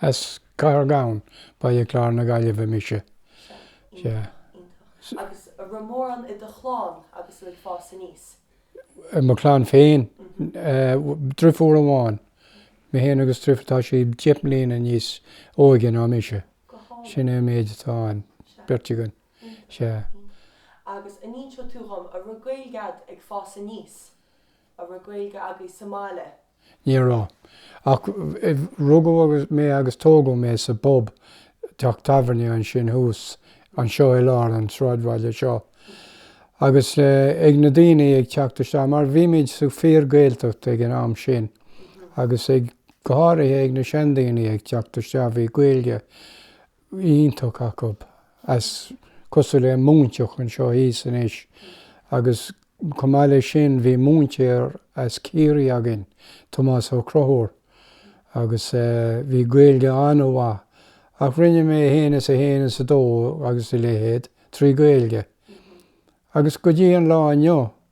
As Cathair Ghabhann, Baile Chláir na Gaillimhe mise. Sea. Iontach. Agus a' raibh mórán i do chlann agus tú ag fás aníos? I mo chlann féin? Eh, driofúr amháin. Mé fhéin agus driofúr, tá sí deich mbliana níos óige ná mise. Go hálainn. Sin é an méid atá ann. Sea. Beirt againn. Sea. Agus an n-inseoidh tú dhom, a' raibh Gaeilg a'd ag fás aníos, a' raibh Gaeilge agaibh sa mbaile? Ní raibh. Ach rugadh agus, mé agus tógadh mé sa bpub, teach tábhairne ansin thuas, anseo i lár an tsráidbhaile seo. Agus eh ag na daoiní ag teacht isteach, mar bhí muid sa fíor-Ghaeltacht ag an am sin, agus ag, go háirithe ag na seandaoiní ag teacht isteach bhí Gaeilge, iontach acu as cosúil le Móinteach anseo thíos anois agus chomh maith le sin bhí múinteoir as Ciarraí againn Tomás Ó Conchúir agus bhí Gaeilge an-mhaith ach rinne mé 1 is 1 is 2 agus a leithéid trí Gaeilge agus go dtí an lá inniu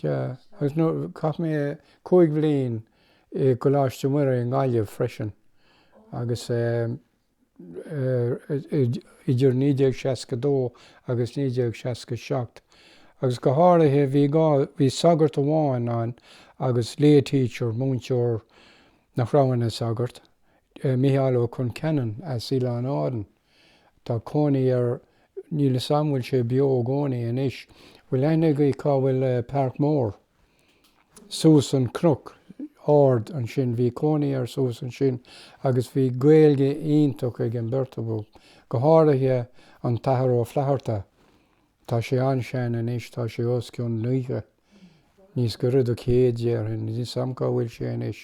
Sea, agus nó, chaith mé cúig bhliain i gColáiste Muire i nGaillimh freisin, agus eh, idir 1962 agus 1967, agus go háirithe, bhí gá, bhí sagart amháin ann agus lay teacher, múinteoir nach raibh ina shagart, eh, Micheál Ó Concheanainn as Oileán Árann. Tá cónaí air, níl 'fhios a'm bhfuil sé beo i gcónaí anois, bhfuil aithne agaibh cá bhfuil Páirc Mór? Suas an cnoc ard ansin, bhí cónaí air suas ansin agus bhí Gaeilge iontach ag an beirt acu, go háirithe an tAthair Ó Flatharta, tá sé an-sean anois, tá sé os cionn naocha. níos gaire do 100 déarfainn, níl 'fhios a'm cá bhfuil sé anois,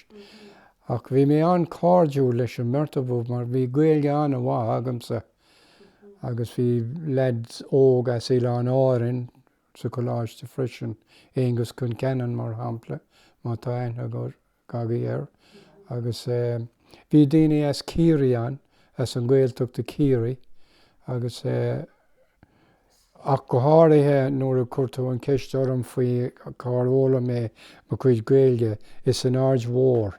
ach bhí mé an-cairdiúil leis an mbeirt acu mar bhí Gaeilge an-mhaith agamsa agus bhí leaid óg as Oileáin Árann sa choláiste freisin, Aengus Concannon mar shampla, má tá aithne ag. agaibh air, agus bhí daoine as Ciarraí ann, as an Gaeltacht i gCiarraí, agus ach go háirithe nuair a chuir tú an cheist orm faoi cár fhoghlaim mé mo chuid Gaeilge, is in Aird Mhóir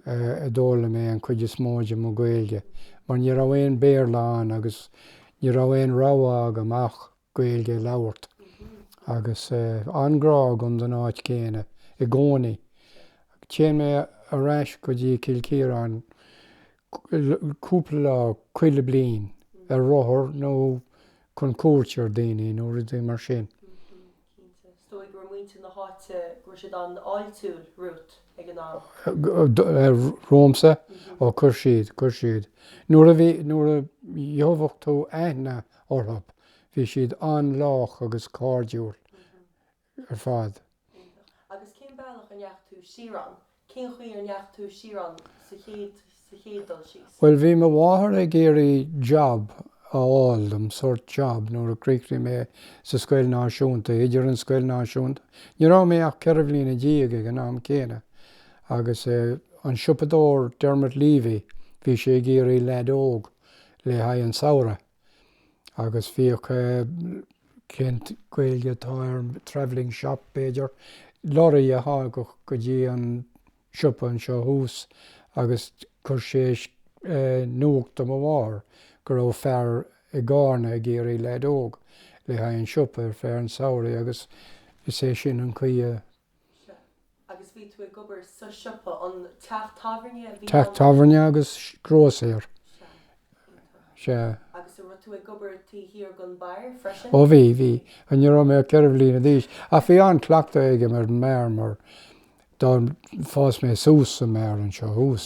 a d'fhoghlaim mé an chuid is mó de mo Ghaeilge, mar ní raibh aon Béarla ann agus ní raibh aon rogha agam ach. Gaeilge a labhairt agus an-ghrá agam don áit chéanna i gcónaí. Téann mé ar ais go dtí Cill Chiaráin cúpla lá chuile bhliain ar rothar nó chun cuairt ar daoine nó rud mar sin. Cinnte. Is dóigh go raibh muintir na háite, go raibh siad an-fháiltiúil romhat ag an am. Romhamsa? Ó, chuir siad, chuir siad. Nuair a gheobhadh tú aithne orthu. Bhí siad an-lách agus cairdiúil ar fad. Iontach. Agus cén bealach a ndeachaigh tú siar ann? Cén chaoi a ndeachaigh tú siar ann sa chéad, sa chéad dul síos? Bhuel, bhí mo mháthair ag iarraidh job a fháil dom, sórt job, nuair a chríochnaigh mé sa scoil náisiúnta, idir an scoil náisiúnta, ní raibh mé ach ceithre bhliana déag ag an am céanna, agus an siopadóir Dermot Leavy, bhí sé ag iarraidh leaid óg. le haghaidh an samhradh agus bhíodh eh, cén Gaeilge atá ar travelling shop b'fhéidir, lorraí a thagadh go dtí an siopa anseo thuas agus chuir sé eh, nuacht do mo mháthair go raibh fear i gCárna ag iarraidh leaid óg le haghaidh an siopa ar feadh an samhraidh agus is é sin an chaoi a Teach tábhairne agus grósaeir. Sea. Ó bhí, bhí. Ní raibh mé ach ceithre bhliana d'aois. Ach bhí an-chleachtadh agam ar an mbeár mar do fhás mé suas sa mbeár anseo thuas.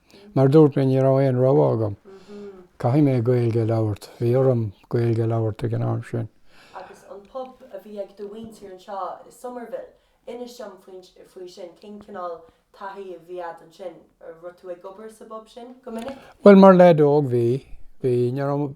Mar a dúirt mé, ní raibh aon rogha agam. Caithfidh mé Gaeilge a labhairt. Bhí orm Gaeilge a labhairt ag an am sin. Agus an pub a bhí ag do mhuintir anseo i Summerhill, inis dom faoi sin. Cén chineál taithí a bhí agat ansin? Raibh tú ag obair sa bpub sin go minic? Bhuel, mar leaid óg, bhí. Bhí. Ní raibh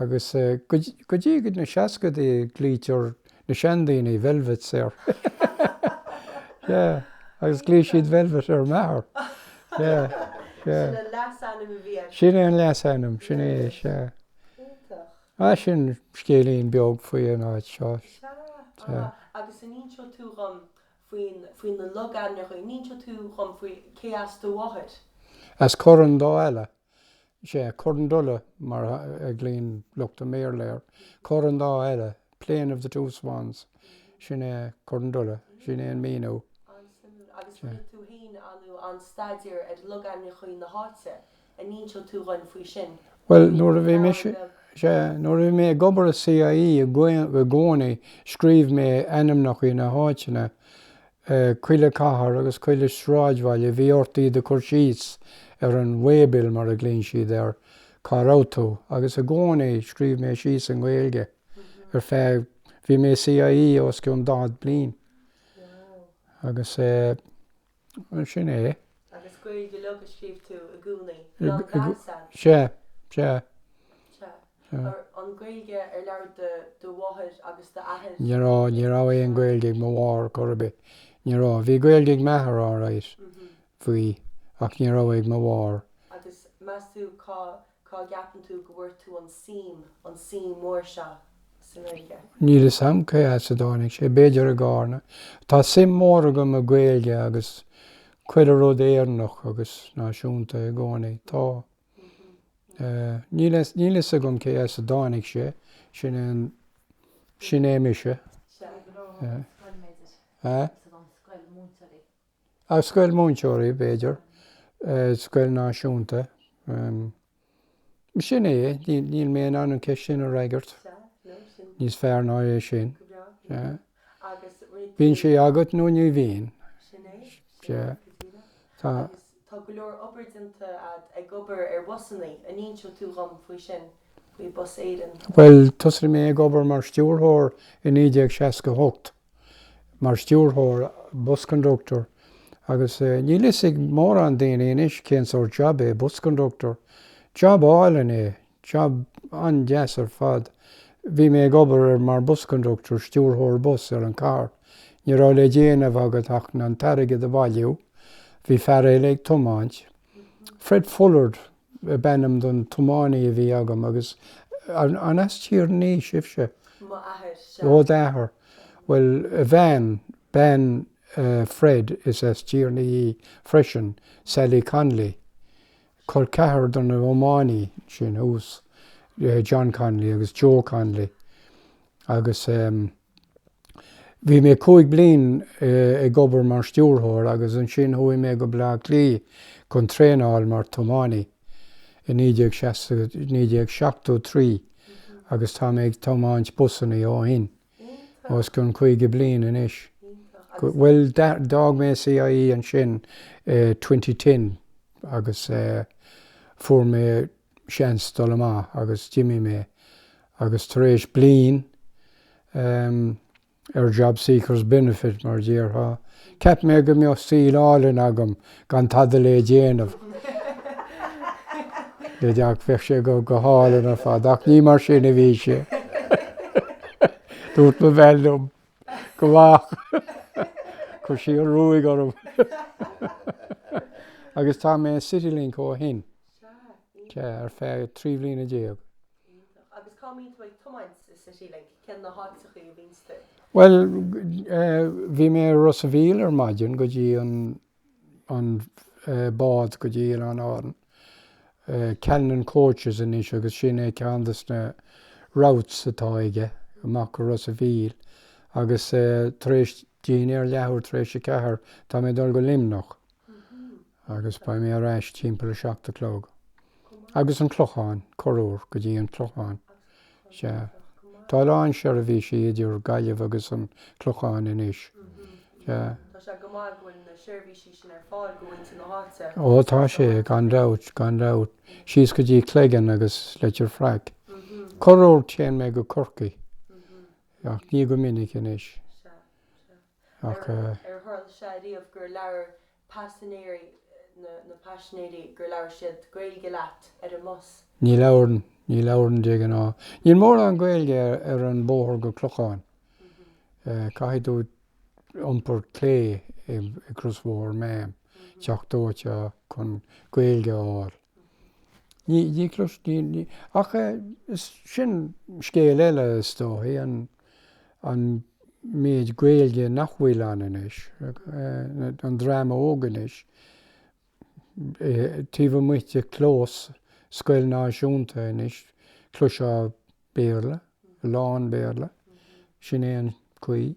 Agus go dtí na seascadaí glaoitear na seandaoine Velvets air. Yeah, agus ghlaoigh siad Velvet ar m'athair. Yeah, yeah. Sin an leasainm a bhí air. Sin é an leasainm, sin é, sea. Iontach. Ah, sin scéilín beag faoi an áit seo. Sea, ah, agus an inseoidh tú dhom faoin, faoi na logainmneacha, an inseoidh tú dhom faoi cé as do mháthair? As Corann Dá Eala. Is é Corandoola, mar a ghlaonn lucht an Bhéarla air, Corann Dá Eala, Plain of the Two Swans. Sin é Corandoola. Sin é an míniú. An-suimiúil. Agus rinne tú fhéin an-an staidéar ar logainmneacha na háite, an inseoidh tú dhuinn faoi sin. Bhuel, nuair a bhí mise, is é, nuair a bhí mé ag obair i CIE i gcónaí scríobh mé ainmneacha na háiteanna Chuile cathair agus chuile sráidbhaile bhí ort iad a chur síos ar an way-bill mar a ghlaonn siad air, cá raibh tú agus i gcónaí scríobh mé síos i nGaeilge ar feadh, bhí mé i CIE os cionn 40 bliain agus bhuel sin é. Agus Gaeilge uilig a scríobh tú i gcónaí, lag mheáite? Sea, sea. Sea. an Ghaeilge ar labhair do do mháthair agus d'athair? Ní raibh, ní raibh aon Ghaeilge ag mo mháthair chor ar bith. Ní raibh. Bhí Gaeilge ag m'athair alright, bhí, ach ní raibh ag mo mháthair. Agus meas tú cá, cá gceapann tú go bhfuair tú an suim, an suim mhór seo sa nGaeilge? Níl 'fhios a'm cé as a dtáinig sé, b'fhéidir i gCárna. Tá suim mhór agam i Gaeilge agus chuile rud Éireannach agus náisiúnta i gcónaí, tá. Níl fhios agam cé as a dtáinig sé, sin é an, sin é mise. As scoil múinteoirí, b'fhéidir, scoil náisiúnta. Sin é, níl mé in ann an ceist sin a fhreagairt níos fearr ná é sin. Bíonn sé agat nó ní bhíonn. Tá. Tá go leor obair déanta agat ag obair ar bhusannaí, an n-inseoidh tú dhom faoi sin, faoi Bus Éireann? Bhuel, thosaigh mé ag obair mar stiúrthóir i 1968, mar stiúrthóir, bus conductor, agus níl 'fhios ag mórán daoine anois cén sórt job é bus conductor. Job álainn é, Job an-deas ar fad. Bhí mé ag obair ar mar bus conductor, stiúrthóir bus, ar an carr. Ní raibh le déanamh agat ach an t-airgead a bhailiú. Bhí fear eile ag tiomáint. Fred Fullard ab ainm don tiománaí a bhí agam agus an as Tír an Fhia sibhse? M'athair, sea. Ó d'athair. Bhuel, a bhean, bean Fred is as Tír an Fhia í freisin, Sally Connolly. Col ceathrar do na hiománaí sin thuas, John Connolly agus Joe Connolly agus bhí mé cúig bliain ag obair mar stiúrthóir agus ansin chuaigh mé go Baile Átha Cliath chun traenáil mar thiománaí i 1960, 1973 agus tá mé ag tiomáint busannaí ó shin. os cionn 50 bliain anois. Bhuel, d'fhág mé CIE ansin i twenty ten agus fuair mé seans dul amach agus d'imigh mé agus tar éis bliain, em, ar job seekers benefit mar a déarfá, cheap mé go mbeadh saol álainn agam gan tada le déanamh le deac bheadh sé go hálainn ar fad ach ní mar sin a bhí sé. Dúirt mo bhean liom gabh amach chuir sí an ruaig orm agus tá mé i Citylink ó shin sea ar feadh trí bhliana déag. Iontach. Agus cá mbíonn tú ag tiomáint i Citylink? Cé na háiteachaí a bhíonns tú? Bhuel, bhí mé i Ros a' Mhíl ar maidin go dtí an, an bád go dtí Oileáin Árann. Callinan Coaches anois agus sin é ceann de na routes atá aige, amach go Ros a' Mhíl. Agus tar éis, dinnéar leathuair tar éis a ceathair, tá mé ag dul go Luimneach. agus beidh mé ar ais timpeall a seacht a chlog. Agus an Clochán, corruair, go dtí an Clochán. Sea. Tá a lán seirbhísí idir Gaillimh agus an Clochán anois. Sea. Tá sé go maith go bhfuil na seirbhísí sin ar fáil do mhuintir na háite. Ó, tá sé, gan dabht, gan dabht. Síos go dtí Cleggan agus Leitir Fraic. Corruair téann mé go Corcaigh, ach ní go minic anois. Sea. Sea. Ar tharla sé riamh gur labhair paisinéirí nó na paisinéirí gur labhair siad Gaeilge leat ar an mbus? Ní labhair, ní labhrann de ghnáth. Níl mórán Gaeilge ar an bóthar go Clochán. Caithfidh tú iompar clé ag crosbhóthar Maam, An Teach Dóite chun Gaeilge a fháil. Ní clois, ní, ní, ach is, sin scéal eile is dóigh, an, an méid Gaeilge nach bhfuil ann anois, an dream óg anois, taobh amuigh de chlós scoile náisiúnta anois, cloisfeá Béarla, a lán Béarla, sin é an chaoi.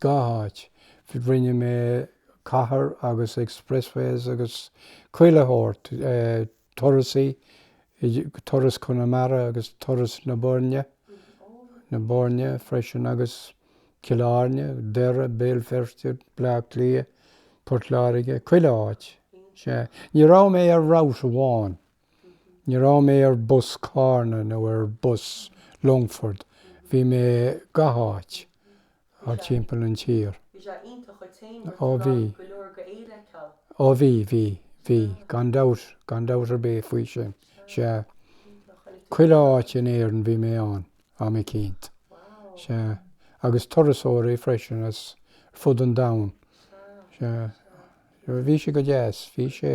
Gach áit. Rinne mé cathair agus expressways agus chuile short, turais, turas Conamara agus turas na Boirne, na Boirne freisin agus Cill Airne, Doire, Béal Feirste, Bleá Cliath, Port Láirge, chuile áit. Sea, ní raibh mé ar route amháin. Ní raibh mé ar bhus Carna nó ar bhus Longford, bhí mé gach áit thart timpeall an tír. Bhí sé iontach dhuit féin mar go raibh go leor den tír le feiceáil. Ó bhí, bhí, bhí, gan dabht, gan dabht ar bith faoi sin, sea. Chuile áit in Éirinn bhí mé ann, am eicínt. Sea. Agus turasóirí freisin ar fud an domhain. Sea. Sea. Bhí sé go deas, bhí sé.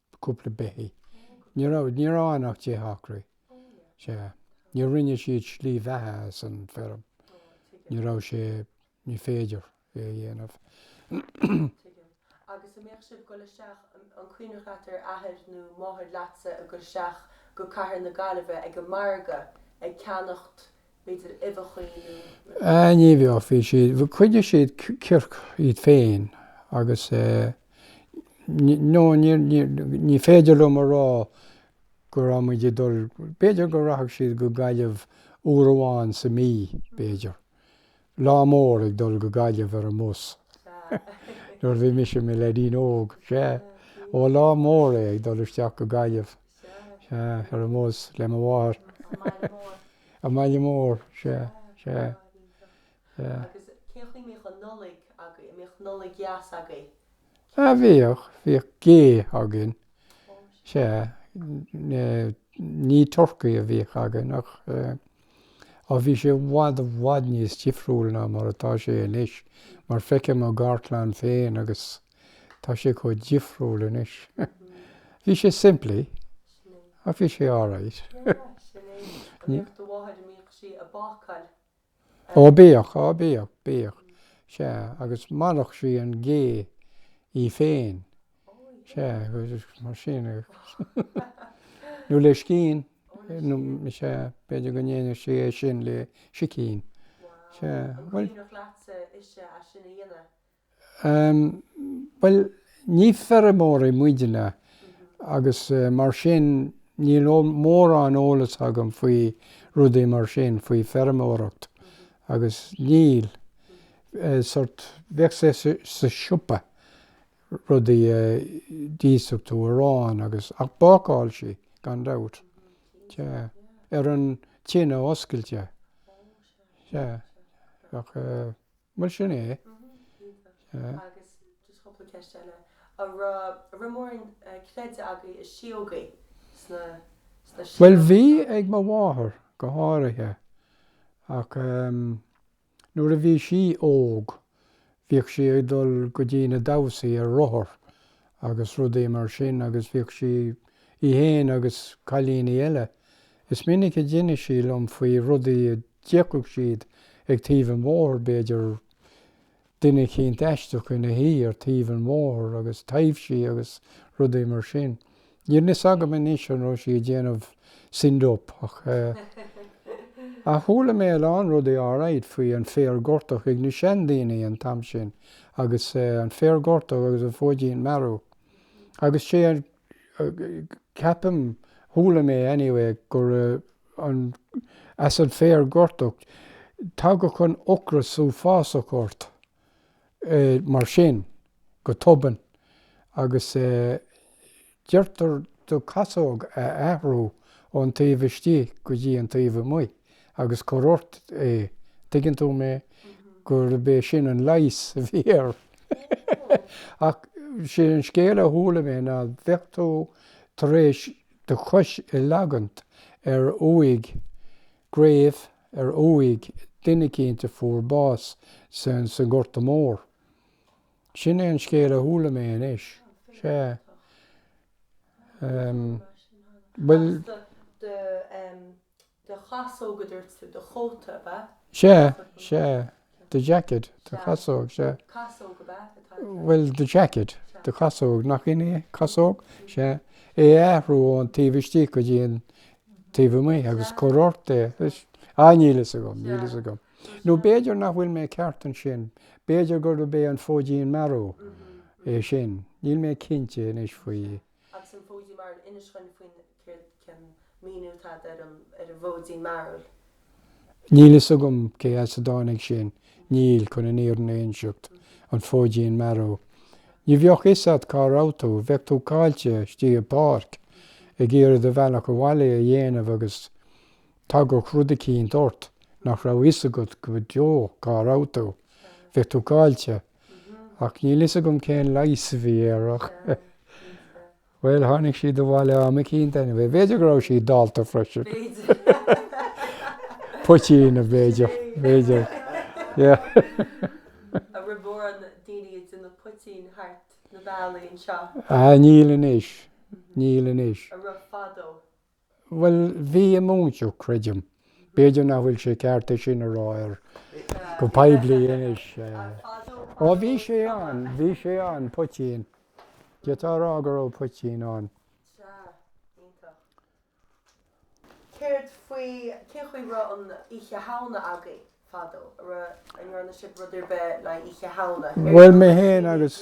beithígh, cúpla beithígh. Ní raibh, ní raibh ann ach deich acraí. Sea. Níor rinne siad slí bheatha as an feirm. Ní raibh sé, ní féidir é a dhéanamh. Tuigim. Agus a' mbíodh sibh dhul isteach, an cuimhneach leat d'athair nó máthair leatsa a' gul isteach go cathair na Gaillimhe ag an margadh ag ceannacht, b'fhéidir, uibheachaí nó. Ní bhíodh. Bhí siad, choinnigh siad circ iad féin agus no níor, níor, ní féidir liom a rá go raibh muid ag dul, b'fhéidir go rachadh siad go Gaillimh uair amháin sa mhí, b'fhéidir. Lá mór ag dul go Gaillimh ar an mbus. Nuair a bhí mise i mo leaidín óg, sea. Ó, lá mór é ag dul isteach go Gaillimh, sea, ar an mbus, le mo mháthair. An baile mór, sea, sea, sea. Agus cén chaoi a mbíodh an Nollaig agaibh? An mbíodh Nollaig dheas agaibh? Ah, bhíodh, bhíodh gé againn, sea. Ní turcaí a bhíodh againn ach eh. Ach bhí sé i bhfad i bhfad níos difriúil ná mar atá sé anois, mar feicim mo gharchlann féin agus tá sé chomh difriúil anois. Bhí sé simplí, ach bhí sé alright. Ó, bhíodh, á, bhíodh, bhíodh, sea, agus mharaíodh sí an gé í féin. Sea, agus mar sin, nó le scian, nó, sea, b'fhéidir go ndéanadh sí é sin le sicín. Sea, bhuel. Críochnaíodh leatsa uisce as sin a dhéanamh? Bhuel, ní feirmeoirí muidinne agus mar sin níl mórán eolas agam faoi rudaí mar sin, faoi fheirmeoireacht agus níl, sórt, bheadh sé sa siopa, rudaí a d'íosfadh tú arán agus, ach bácáil sí, gan dabht. Sea. Ar an tine oscailte. Sea. Ach eh, bhuel sin é. Sea. Agus just cúpla ceist eile. A raibh, a raibh mórán eh, creideamh agaibh i síógaí sna, sna Bhuel bhí, síóga san? ag mo mháthair go háirithe. Ach ehm. Nuair a bhí sí óg, bhíodh sí ag dul go dtí na damhsaí ar rothar agus rudaí mar sin agus bhíodh sí, í fhéin agus cailíní eile, is minic a d'inis sí dhom faoi rudaí a d'fheicfeadh siad ag taobh an bhóthair, b'fhéidir duine eicínt aisteach ina shuí ar taobh an bhóthair agus taibhsí agus rudaí mar sin. Níl fhios agam anois an raibh sí ag déanamh send-up ach ach chuala mé a lán rudaí alright faoi an féar gortach ag na seandaoine an t-am sin agus an féar gortach agus an fóidín mearú agus sé an ceapaim chuala mé anyway gur as an féar gortach tagadh an ocras uafásach ort mar sin, go tobann, agus deirtear do chasóg a athrú ón taobh istigh go dtí an taobh amuigh agus cuir ort é, tuigeann tú mé, gurb é sin an leigheas a bhí air. Ach sé an scéal a chuala mé ná bheadh tú tar éis do chois a leagaint ar uaigh, grave, ar uaigh duine eicínt a fuair bás san Gorta Mór. Sin é an scéal a chuala mé anois. Sea. Em. Bhuel. Do chasóg a dúirt tú, do chóta, ab ea? Sea, sea. The jacket, do chasóg, sea. Casóg ab ea atá aige. Bhuel, the jacket, do chasóg, nach shin é? Casóg? Sea. É a athrú ón taobh istigh go dtí an taobh amuigh agus cur ort é. Ah, níl a fhios agam, níl a fhios agam. Nó b'fhéidir nach bhfuil mé ceart ansin, b'fhéidir gurb é an Fóidín Mearú é sin. Níl mé cinnte anois faoi. Agus an fóidín mearú, inis dhúinn faoin, céard, cén míniú atá ar an ar an bhfóidín mearú. Níl fhios agam cé as a dtáinig sin, níl, chun an fhírinne a inseacht, an fóidín mearú. Ní bheadh fhios a't cá raibh tú, bheadh tú caillte istigh i páirc ag iarraidh do bhealach abhaile a dhéanamh agus tagadh rud eicínt ort nach raibh fhios agat go deo cá raibh tú, bheadh tú caillte. Ach níl fhios agam cén leigheas a bhí air ach bhuel tháinig siad abhaile am eicínt anyway. B'fhéidir go raibh siad dallta freisin. Poitín a b'fhéidir. B'fhéidir. Yeah. An raibh mórán daoine ag déanamh poitín thart na bealaí anseo? Ah níl anois. Níl anois. An raibh fadó? Bhuel, bhí i Móinteach, creidim. B'fhéidir nach bhfuil sé ceart é sin a rá ar, go poiblí anois. Ó, bhí sé ann, bhí sé ann, poitín. D'fhéadfá a rá go raibh poitín ann. Sea, iontach. Céard faoi, cén chaoi raibh an Oíche Shamhna agaibh fadó? Raibh, an ndearna sibh rud ar bith le hOíche Shamhna? Bhuel, mé féin agus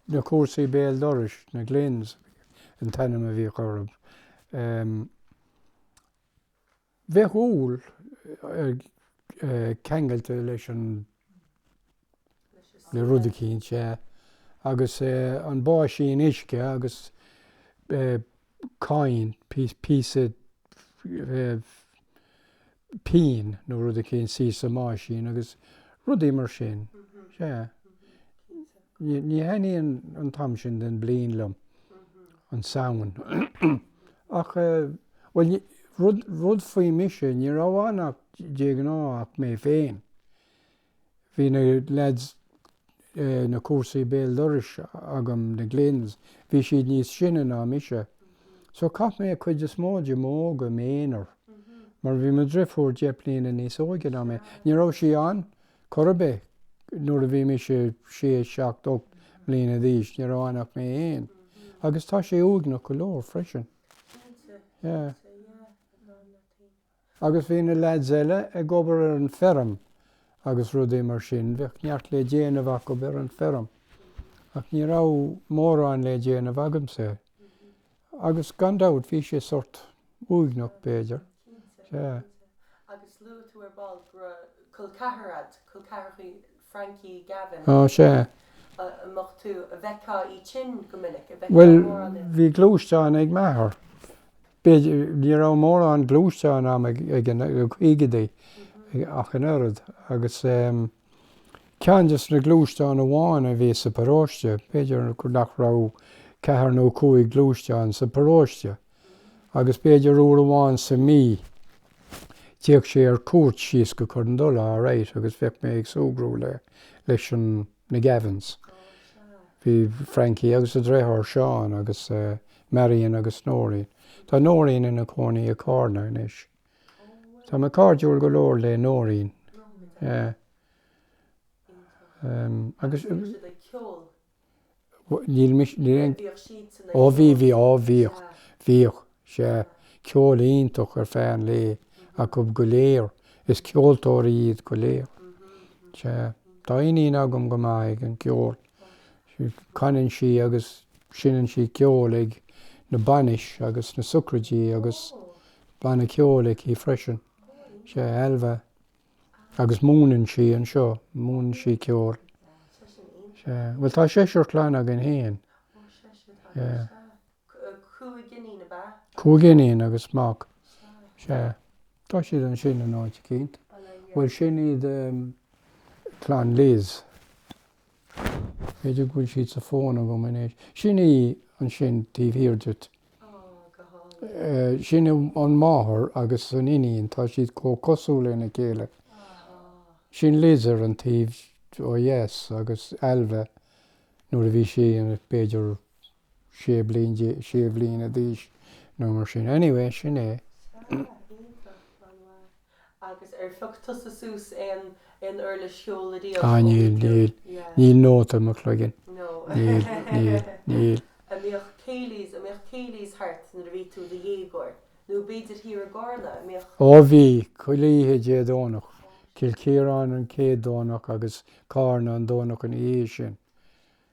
Na comharsaí béal dorais, na Glynns, an t-ainm a bhíodh orthu. Bheadh úll ceangailte leis an, le rud eicínt, sea, agus an báisín uisce agus coin, píosa pingin nó rud eicínt thíos sa mbáisín agus rudaí mar sin. Sea. Ní thaitníonn an t-am sin den bliain liom, an Samhain. Ach, bhuel rud faoi mise, ní raibh ann ach, de ghnáth, ach mé féin. Bhí na leaids, na comharsaí béal dorais agam, na Glynns, bhí siad níos sine ná mise. So chaith mé cuid is mó de m'óige im' aonar. Mar bhí mo driofúr deich bliana níos óige ná mé. Ní raibh sí ann chor ar bith nuair a bhí mise sé, seacht, ocht mbliana d'aois, ní raibh ann ach mé fhéin. Agus tá sé uaigneach go leor freisin. Yeah. Agus bhí na leaids eile ag obair ar an feirm agus rudaí mar sin, bheadh neart le déanamh acub ar an feirm. Ach ní raibh mórán le déanamh agamsa. Agus gan dabht, bhí sé sórt uaigneach, b'fhéidir. Cinnte, cinnte. Agus luaigh tú ar ball go raibh col ceathrar a'd, col ceathrachaí Frankie Gavin, Ó, sea. an mbeadh tú, a bhfeictheá iad sin go minic? a bhfeictheá Bhuel, mórán i. bhí gluaisteán ag m'athair. B'fhéidir, ní raibh mórán gluaisteáin ann ag, ag an, na caogaidí ach an oiread agus ehm, ceann des na gluaisteáin amháin a bhí sa pharóiste, b'fhéidir nach raibh ach ceathair nó cúig gluaisteán sa pharóiste. agus b'fhéidir uair amháin sa mí théadh sé ar cuairt síos go Corr an Dola, alright, agus bheadh mé ag súgradh le, leis an, na Gavins. Bhí Frankie agus a dheartháir Seán agus Marian agus Nóirín. Tá Nóirín ina cónaí i gCarna anois. Tá mé cairdiúil go leor le Nóirín. Yeah. Agus. níl mise, níl aon, bhíodh siadsan ag, ó bhí, ceol, bhí, ó bhíodh, sea. bhíodh, sea, ceol iontach ar feadh an lae acub go léir, is ceoltóirí iad go léir, sea. Tá iníon agam go maith ag an gceol, canann sí agus seinneann sí ceol ag na bainis agus na socraidí agus banna ceoil aici freisin, sea, Ailbhe. agus múineann sí anseo, múineann sí ceol. Sea, bhuel tá seisear clann againn fhéin. Sea. Cúig iníon ab ea? Cúig iníon agus mac. Sea. Tá siad ansin in áit eicínt. Bhuel sin iad clann Liz. B'fhéidir go bhfuil siad sa fón agam anois. Sin í ansin taobh thiar diot. Sin an mháthair agus an iníon, tá siad chomh cosúil lena chéile. Sin Liz ar an taobh ó dheas agus Ailbhe nuair a bhí sí b'fhéidir sé bliain, sé bhliana d'aois nó mar sin. Anyway, sin é. Ah, níl, níl, níl nóta i mo chloigeann. Níl, níl, níl. Ó, bhí, chuile oíche Dé Domhnach. Cill Chiaráin an chéad Domhnach agus Cárna an Domhnach ina dhiaidh sin.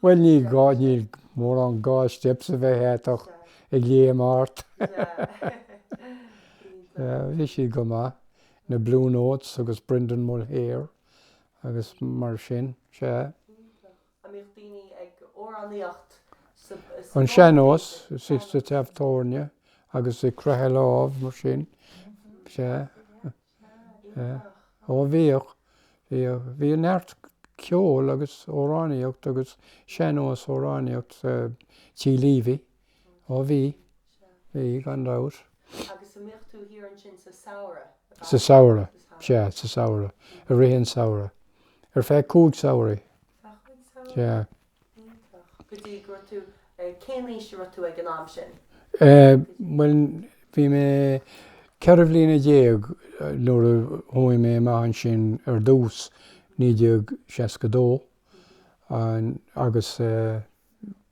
Bhuel, níl gá, níl mórán gá steps a bheith a't ach ag léim thart. Yeah, bhí siad go maith, na Blue Notes agus Brendan Mulhaire agus mar sin, sea. An mbíodh daoine ag amhránaíocht sa, sa, An sean-nós, sea, sa teach tábhairne agus ag croitheadh lámh, mar sin, sea. Ó bhíodh, bhíodh, bhíodh neart ceoil agus amhránaíocht agus sean-nós amhránaíocht Tigh Leavy. Ó bhí, bhí gan dabht. Agus an mbíodh tú thiar ansin sa samhradh? Sa samhradh, sea, sa samhradh, i rith an samhradh. Ar feadh cúig samhraí. Ar feadh cúig samhraí? Sea. Iontach. Go dtí go raibh tú, eh, cén aois a bhí tú ag an am sin? Eh, bhuel, bhí mé ceithre bhliana déag nuair a chuaigh mé amach ansin ar dtús, naoi déag seasca dó. An, agus eh,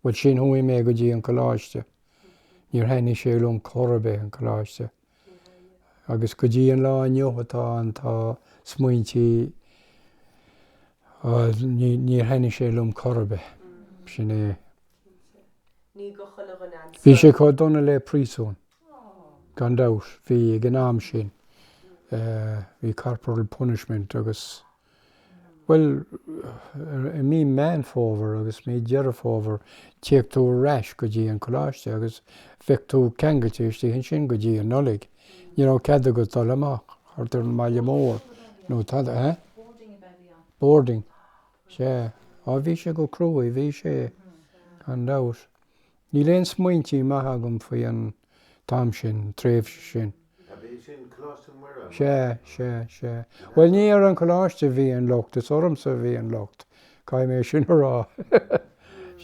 bhuel, sin chuaigh mé go dtí an coláiste. Níor thaitnigh sé liom chor ar bith, an coláiste. agus go dtí an lá inniu atá ann, tá smaointí, á, níor thaitnigh sé liom chor ar bith, sin é. Ní do chuile dhuine an saol. Bhí sé chomh dona le príosún, gan dabht, bhí, ag an am sin, bhí corporal punishment agus. Bhuel, i mí Meán Fómhair agus mí Deireadh Fómhair téadh tú ar ais go dtí an coláiste agus bheadh tú ceangailte istigh ansin go dtí an Nollaig. Ní raibh cead agat a dhul amach thart ar an mbaile mór nó tada, eh? Boarding a bhí ann. Boarding. Sea. Á bhí sé go cruaidh, bhí sé, gan dabht. Níl aon smaointí maithe agam faoi an t-am sin, an tréimhse sin. Ab é sin Coláiste Mhuire, Sea, mar a. sea, sea. Bhuel, ní ar an gcoláiste a bhí an locht, is ormsa a bhí an locht, caithfidh mé sin a rá.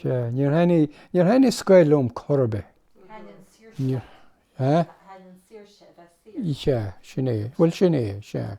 Sea, níor thaitnigh, níor thaitnigh scoil liom chor ar bith. Thaitin saoirse Níor, leat, eh? thaitin saoirse, a bheith saor. Sea, sin é, bhuel, sin é, sea.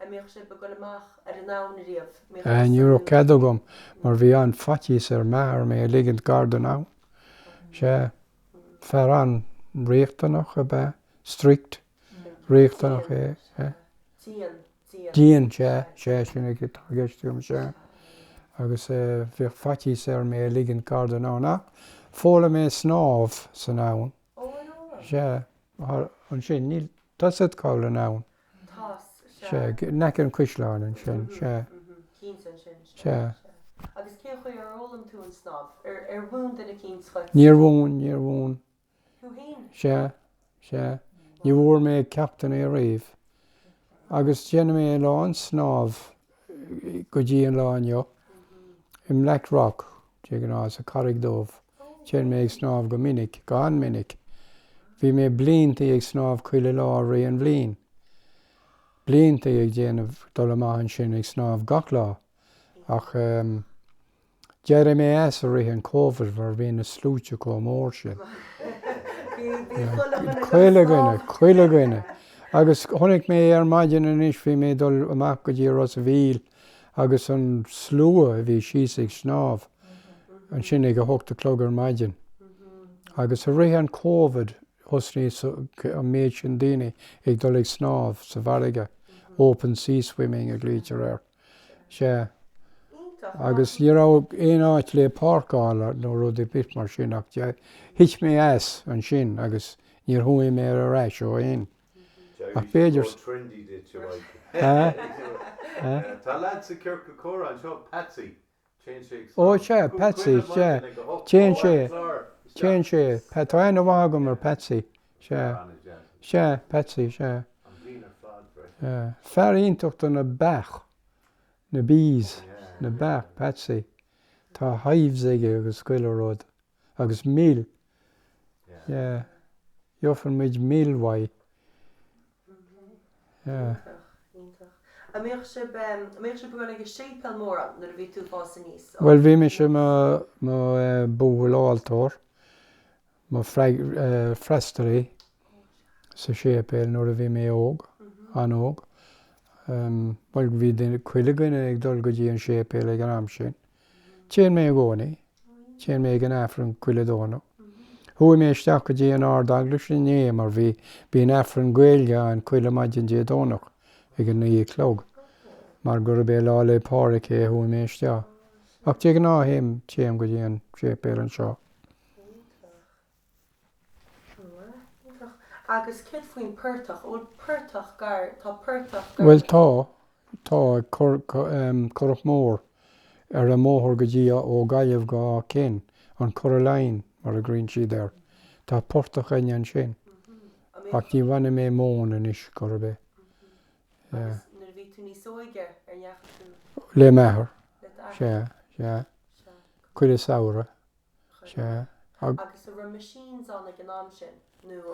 An mbíodh sibh ag dul amach ar an abhainn riamh? Ní raibh cead agam mar bhí an-fhaitíos ar m'athair mé a ligint gar don abhainn. Sea, fear an-riachtanach ab ea, strict, riachtanach, é, sea. Dian, dian. Dian, sea, sea, sin é atá i gceist agam, sea. Agus bhíodh faitíos air mé a ligint gar don abhainn ach, d'fhoghlaim mé snámh san abhainn. Sea, mar ansin, i dtosach, Cabhal an abhainn. Sea, in aice an chuisleáin ansin, sea. Sea. Agus cén chaoi ar fhoghlaim tú an snámh? Ar mhúin duine éigin duit? Níor mhúin, níor mhúin. Tú fhéin? Sea, sea. Ní bhfuair mé ceachtanna ariamh. Agus déanann mé a lán snámh go dtí an lá inniu, i mBlack Rock, de ghnáth, sa Charraig Dhubh. Téann mé ag snámh go minic, go han-mhinic. Bhí mé bliantaí ag snámh chuile lá i rith an bhliain. Bliantaí ag déanamh dul amach ansin ag snámh gach lá. Ach ehm. d'éirigh mé as i rith an Covid mar bhí na sluaite chomh mór sin. Bhí chuile dhuine ag dul. Chuile dhuine, chuile dhuine. Agus chonaic mé ar maidin anois, bhí mé dul amach go dtí Ros a' Mhíl, agus an slua a bhí síos ag snámh ansin ag a hocht a chlog ar maidin. Agus i rith an Covid, thosaigh an méid sin daoine ag dul ag snámh sa bhfarraige, open sea swimming a ghlaoitear air. Sea. Iontach. Agus ní raibh aon áit le páirceáil nó rud ar bith mar sin ach thit mé as ansin agus níor chuaigh mé ar ais ó shin. Ach b'fhéidir sa. Ó, sea, Patsy, sea. Téann sé, téann sé. Tá aithne mhaith agam ar Patsy. Sea. Sea, Patsy, sea. Fear iontach do na beach, na bees, na beach, Patsy. Tá hives aige agus chuile rud. agus mil, yeah, gheofann muid mil mhaith. Iontach, iontach. An mbeadh sibh, an mbeadh sibh ag dul ag an séipéal mór ann nuair a bhí tú ag fás aníos? Bhuel, bhí mise i mo bhuachaill altóra, i mo fhreastalaí sa séipéal nuair a bhí mé óg, an-óg. Bhuel, bhí chuile dhuine ag dul go dtí an séipéal ag an am sin. Téann mé i gcónaí. Téann mé ag an Aifreann chuile Domhnach. Chuaigh mé isteach go dtí an Ard-Eaglais inné mar bhí, bíonn Aifreann Gaeilge ann chuile maidin Dé Domhnach ag a naoi a chlog. Mar gurb é Lá 'le Pádraig é chuaigh mé isteach. Ach de ghnáth théim, téim go dtí an séipéal anseo. Bhuel, tá. Tá currach mór, ar an mbóthar go dtí, ó Gaillimh go Áth Cinn, an Curragh Line mar a nglaonn siad air. Tá portach againne ansin. Ach ní bhaineann mé móin anois, chor ar bith. Agus nuair a bhí tú níos óige, an ndeachaigh tú? Le m'athair. Sea, sea. Sea. Chuile samhradh.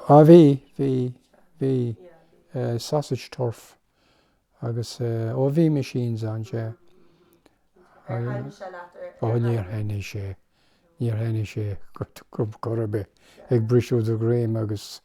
Á, bhí, bhí, bhí, sausage turf agus, ó bhí machines ann, sea. Ó, níor thaitnigh sé, níor thaitnigh sé chor ar bith. Ag briseadh do dhroim agus.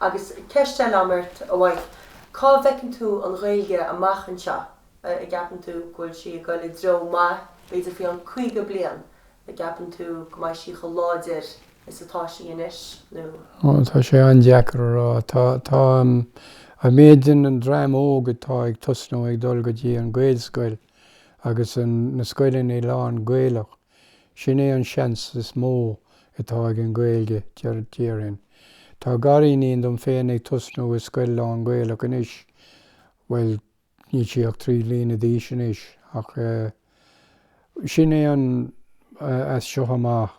Agus ceist eile a'm ort, a Mhaidhc, cá bhfeiceann tú an Ghaeilge amach anseo? a gceapann tú go bhfuil sí ag goil i dtreo maith, b'fhéidir faoi cheann 50 bliain, a gceapann tú go mbeidh sí chomh láidir is atá sí anois nó.? Ó, tá sé an-deacair a rá. Tá, tá, a mhéid den dream óg atá ag tosnú ag dul go dtí an Gaelscoil agus an, na scoileanna lán Gaelach, Sin é an seans is mó atá ag an Ghaeilge, déarfainn. Tá gariníon dom féin ag tosnú i scoil lán-Gaelach anois. Bhuel, níl sí ach trí bliana d'aois anois, ach sin é an, as seo amach,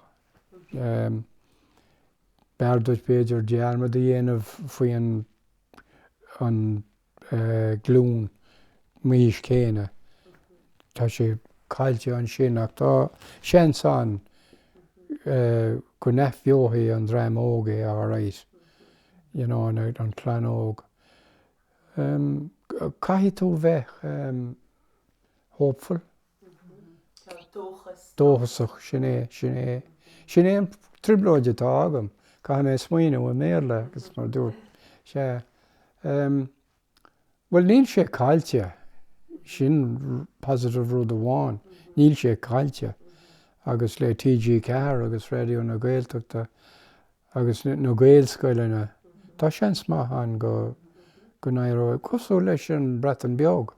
b'fhearr duit b'fhéidir dearmad a dhéanamh faoi an glún m'aois céanna. Tá sé caillte ansin ach tá seans ann go n-athbheodh an dream óg é alright, you know, an chlann óg. Caithfidh tú bheith hopeful. dóchasach. Sin é, sin é, sin é an trioblóid atá agam, caithfidh mé smaoineamh i mBéarla agus mar a dúirt sé, ehm, bhuel níl sé caillte, sin positive rud amháin, níl sé caillte agus le TG4 agus Raidió na Gaeltachta agus na Gaelscoileanna, tá seans maith ann go, go n-éireoidh, cosúil leis an Bhreatain Bheag,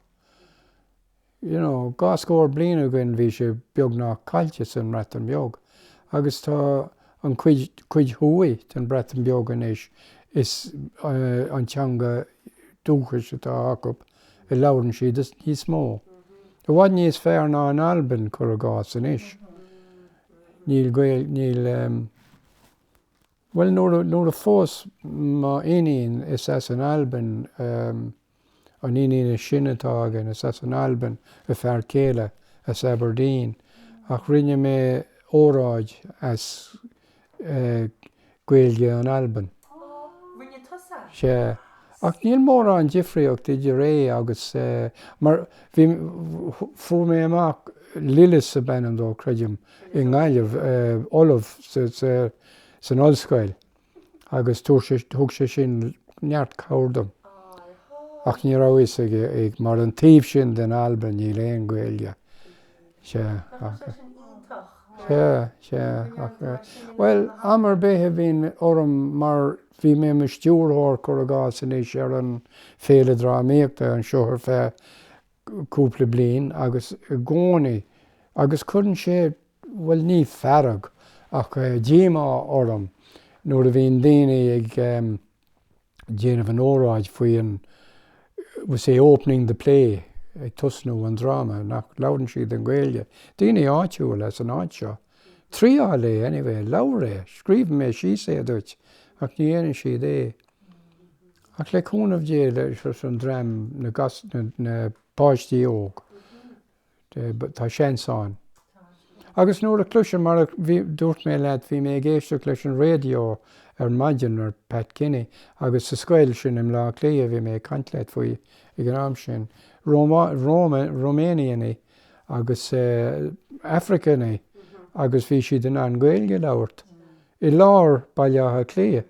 you know, dhá scór bliain ó shoin bhí sé beagnach caillte san mBreatain Bheag agus tá an cuid thuaidh den Bhreatain Bheag anois is eh an teanga dúchais atá acu a labhrann siad is níos mó, i bhfad níos fearr ná in Albain cur i gcás anois. Níl Gaeil, níl em, bhuel nuair a, nuair a phós m'iníon is as an Albain eh, An iníon sin atá againn is as an Albain a fear céile, as Aberdeen, ach rinne mé óráid as Gaeilge in Albain. Á, rinne tusa? Sea. Ach níl mórán difríocht idir é agus, mar bhí, fuair mé amach, Lillis ab ainm dó, creidim, i nGaillimh, ollamh san ollscoil. agus thug sé sin neart cabhair dom. Ach ní raibh fhios aige mar an taobh sin den Albain níl aon Gaeilge. Sea. Sea, sea. Bhuel, am ar bith a bhíonn orm mar bhí mé i mo stiúrthóir cur i gcás anois ar an Féile Drámaíochta anseo ar feadh cúpla bliain agus i gcónaí agus cuireann sé, bhuel, ní fearg ach díomá orm nuair a bhíonn daoine ag déanamh an óráid faoi an, we say opening the play, ag tosnú an dráma, nach labhrann siad an Ghaeilge, daoine áitiúil as an áit seo. Triáil é anyway, labhair é, scríobhfaidh mé síos é duit ach ní dhéanann siad é. Ach le cúnamh Dé leis an dream na páistí óg tá seans ann. Agus nuair a chloisim mar a dúirt mé leat bhí mé ag éisteacht leis an raidió ar maidin ar Pat Kenny agus sa scoil sin i mBleá Cliath a bhí mé ag caint leat faoi ag an am sin. Romanianaí agus Africanaí agus bhí siad in ann Gaeilge a labhairt i lár Baile Átha Cliath.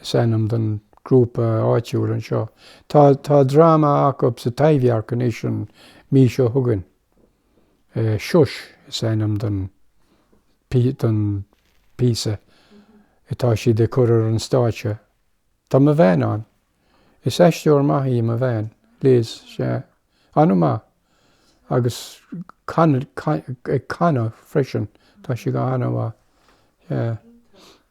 is ainm don grúpa áitiúil anseo. Tá tá dráma acu sa Taibhdhearc anois an mhí seo chugainn. Shush is ainm don don píosa atá siad ag cur ar an stáitse. Tá mo bhean ann. Is aisteoir maith í mo bhean, Liz, sea, an-mhaith, agus ag canadh freisin, tá sí go han-mhaith, yeah.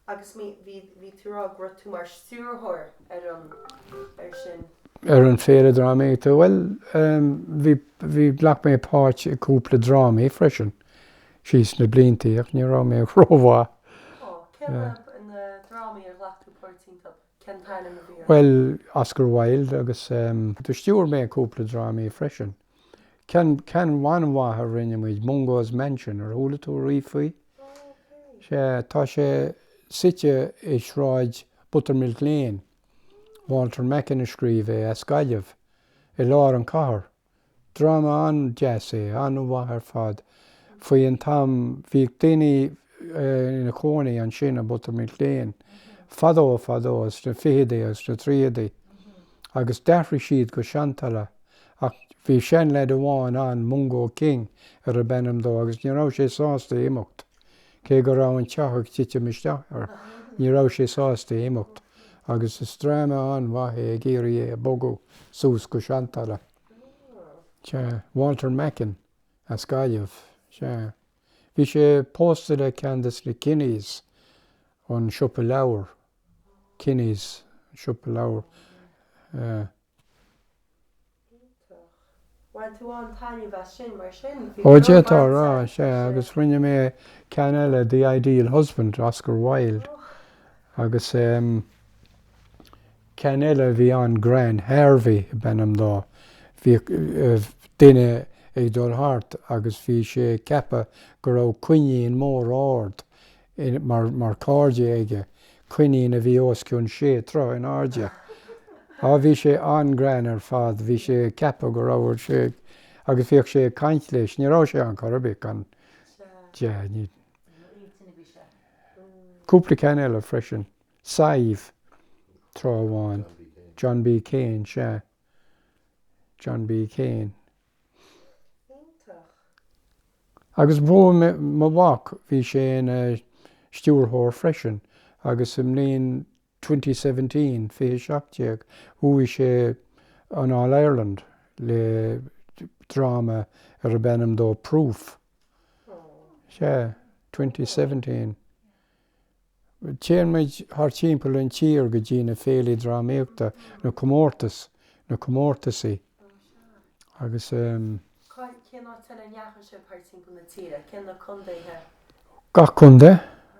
Agus bhí, bhí, bhí tú rá go raibh tú mar stiúrthóir ar an, ar sin. Ar an Féile Drámaíochta, bhuel, bhí, bhí, ghlac mé páirt i gcúpla drámaí freisin, síos na bliantaí, ach ní raibh mé rómhaith. Ó, cé na, na drámaí ar ghlac tú páirt iontu? Cén t-ainm a bhí orthu? Bhuel, Oscar Wilde agus ehm, do stiúir mé cúpla drámaí freisin. Ceann, ceann an-mhaith a rinne muid, Mungo's Mansion, ar chuala tú ariamh faoi? Sea, tá sé suite i sráid Buttermilk Lane, Walter Macken a scríobh é, as Gaillimh, i lár an chathair. Dráma an-deas é, an-mhaith ar fad. Faoin am, bhíodh daoine ina chónaí ansin i mButtermilk Lane, fadó fadó, sna ficheadaí agus sna tríochaidí, agus d'athraigh siad go Seantalamh, ach bhí seanleaid amháin ann, Mungo King, arbh ainm dó, agus ní raibh sé sásta imeacht. Cé go raibh an teach ag titim isteach air, ní raibh sé sásta imeacht, agus is dráma an-mhaith é ag iarraidh é a bhogadh suas go Seantalamh. Sea. Walter Macken, as Gaillimh. Sea. Bhí sé pósta le ceann de na Kennys, ón siopa leabhar, Kennys, an siopa leabhar. Eh. Iontach. Bhain tú an-taitneamh as sin mar sin. Ó, d'fhéadfá a rá, sea. agus rinne mé ceann eile, The Ideal Husband, Oscar Wilde, Och. agus ehm ceann eile a bhí an-ghreann, Harvey ab ainm dó, bhíodh eh duine ag dul thart agus bhí sé ag ceapadh go raibh coinín mór ard mar chairde aige, coinín a bhí os cionn sé troigh in airde. Á, bhí sé an-ghreann ar fad, bhí sé ag ceapadh go raibh, sea. agus bhíodh sé ag caint leis, ní raibh sé ann chor ar bith gan. sea, ní. cúpla ceann eile freisin, Sive, tráth amháin, John B. Keane, sea, John B. Keane. Iontach. Agus mo mhac, bhí sé ina stiúrthóir freisin agus sa mbliain twenty seventeen, fiche seacht déag, bhuaigh sé an All Ireland le dráma arbh ainm dó Proof. Sea, twenty seventeen. Téann muid thart timpeall an tír go dtí na féilí drámaíochta, na comórtais, na comórtaisí agus ehm. Cén áit eile a ndeachaigh sibh thart timpeall na tíre, cén na condaetha? Gach condae,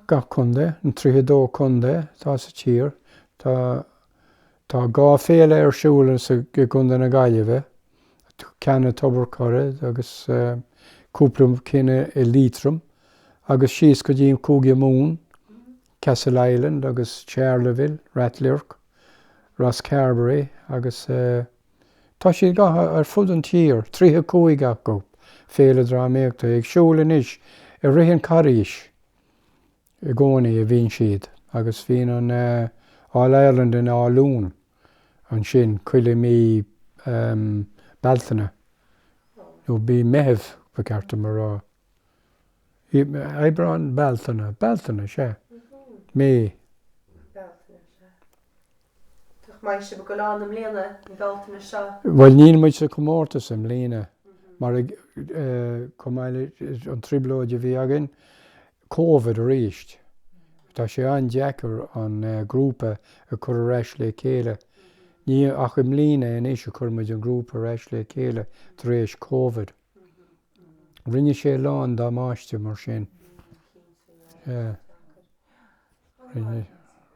gach condae, an 32 condae atá sa tír, tá, tá dhá féile ar siúl sa, i gCondae na Gaillimhe. Ceann i dTobar an Choire agus cúpla cinn i Liatroim agus síos go dtí Cúige Mumhan, Castle Island agus Charleville, Ráth Luirc, Rosscarbery agus tá siad scaipthe ar fud an tír, 35 acu, Féile Drámaíochta ar siúl anois i rith an Charghais i gcónaí a bhíonn siad agus bhíonn an All Ireland in Áth Luain ansin chuile mí Bealtaine, nó mí Meithimh ba cheart dom a rá, Aibreán, Bealtaine, Bealtaine, sea, mí. Nach mbeidh sibh ag gabháil ann i mbliana an Bhealtaine seo? Bhuel níl muid sa comórtas i mbliana mar chomh maith leis an trioblóid a bhí againn le Covid arís tá sé an-deacair an grúpa a cur ar ais le chéile. Ní ach i mbliana anois a chuir muid an grúpa ar ais le chéile tar éis Covid. Rinne sé a lán damáiste mar sin.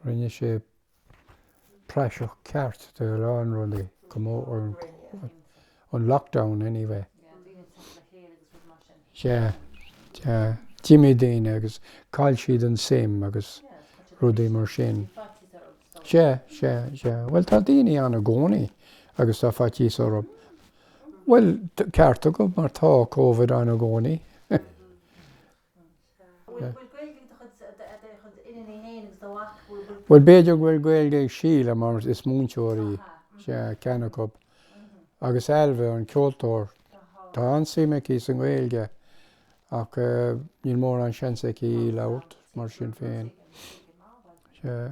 Rinne sé. praiseach ceart de a lán rudaí, go mór mór an Covid, an lockdown anyway. Yeah, yeah, d'imigh daoine agus chaill siad an suim agus rudaí mar sin. Yeah, yeah, yeah, bhuel tá daoine ann i gcónaí agus tá faitíos orthu. Bhuel, ceart agat mar tá Covid ann i gcónaí. Bhuel, b'fhéidir go bhfuil Gaeilge ag Síle mar is múinteoir í, sea, ceann acu. Agus Ailbhe, an ceoltóir, tá an-suim aici sa nGaeilge ach níl mórán seans aici í labhairt mar sin féin. Sea.